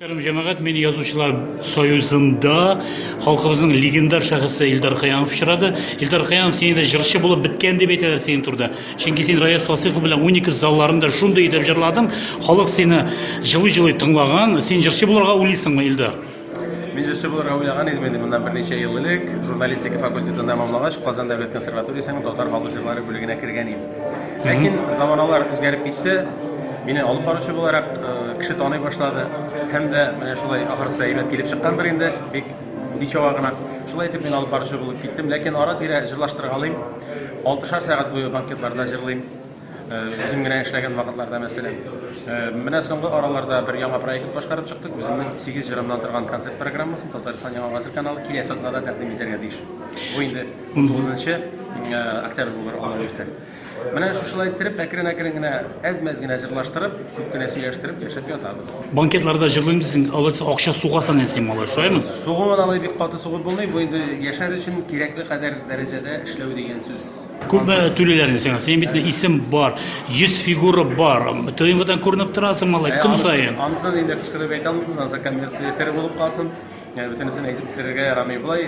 Мөхтәрәм җәмәгать, мин язучылар союзында халкыбызның легендар шәхесе Илдар Хыянов очрады. Илдар Хыянов сине дә җырчы булып беткән дип әйтәләр синең турда. Чөнки син Раяз Фасыйхов белән Уникс залларында шундый итеп җырладың, халык сине җылый-җылый тыңлаган. Син җырчы булырга уйлыйсыңмы, Илдар? Мин җырчы булырга уйлаган идем инде моннан берничә ел элек. Журналистика факультетын тәмамлагач, Казан дәүләт консерваториясенең татар халык җырлары бүлегенә кергән идем. Ләкин заманалар үзгәреп китте. Мине алып баручы буларак э, кеше таный башлады. Һәм дә менә шулай ахырсы әйбәт килеп чыккандыр инде. Бик ничава гына. Шулай итеп мин алып баручы булып киттем. Ләкин ара-тирә җырлаштыра алыйм. Алтышар сәгать буе банкетларда җырлыйм. Э, үзем генә эшләгән вакытларда мәсәлән. Э, менә соңгы араларда бер яңа проект башкарып чыктык. Үземнең 8 җырымнан торган концерт программасын Татарстан Яңа гасыр каналы киләсе атнада тәкъдим итәргә тиеш. Бу инде 19 октябрь булыр алла бирсә менә шушылай иттереп әкрен әкрен генә әз мәз генә җырлаштырып күп кенә сөйләштереп яшәп ятабыз банкетларда җырлыйм дисең алай дисең акча сугасың әнси малай шулаймы сугуын алай бик каты сугып булмый бу инде яшәр өчен кирәкле кадәр дәрәҗәдә эшләү дигән сүз күп түлиләр инде сиңа синең бит исем бар йөз фигура бар тмвдан күренеп торасың малай көн саен анысын инде кычкырып әйтә алмыйбыз анысы коммерция сер булып калсын бөтенесен әйтеп бетерергә ярамый болай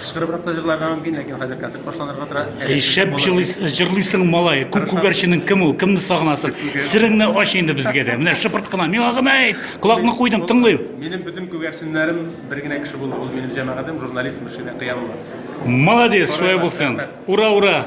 Кычкырыбрак та җырларга мөмкин, ләкин хәзер концерт башланырга тора. Әле Шәп булыр. җырлыйс- җырлыйсың, малай. Күк күгәрченең кем ул? Кемне сагынасың? Сереңне ач инде безгә дә. Менә шыпырт кына. Миңа гына әйт. Колакны куйдым, тыңлыйм. Минем бөтен күгәрченнәрем бер генә кеше булды. Ул минем җәмәгатем, журналист Мөршидә Кыямова. Молодец, шулай булсын. Ура, ура!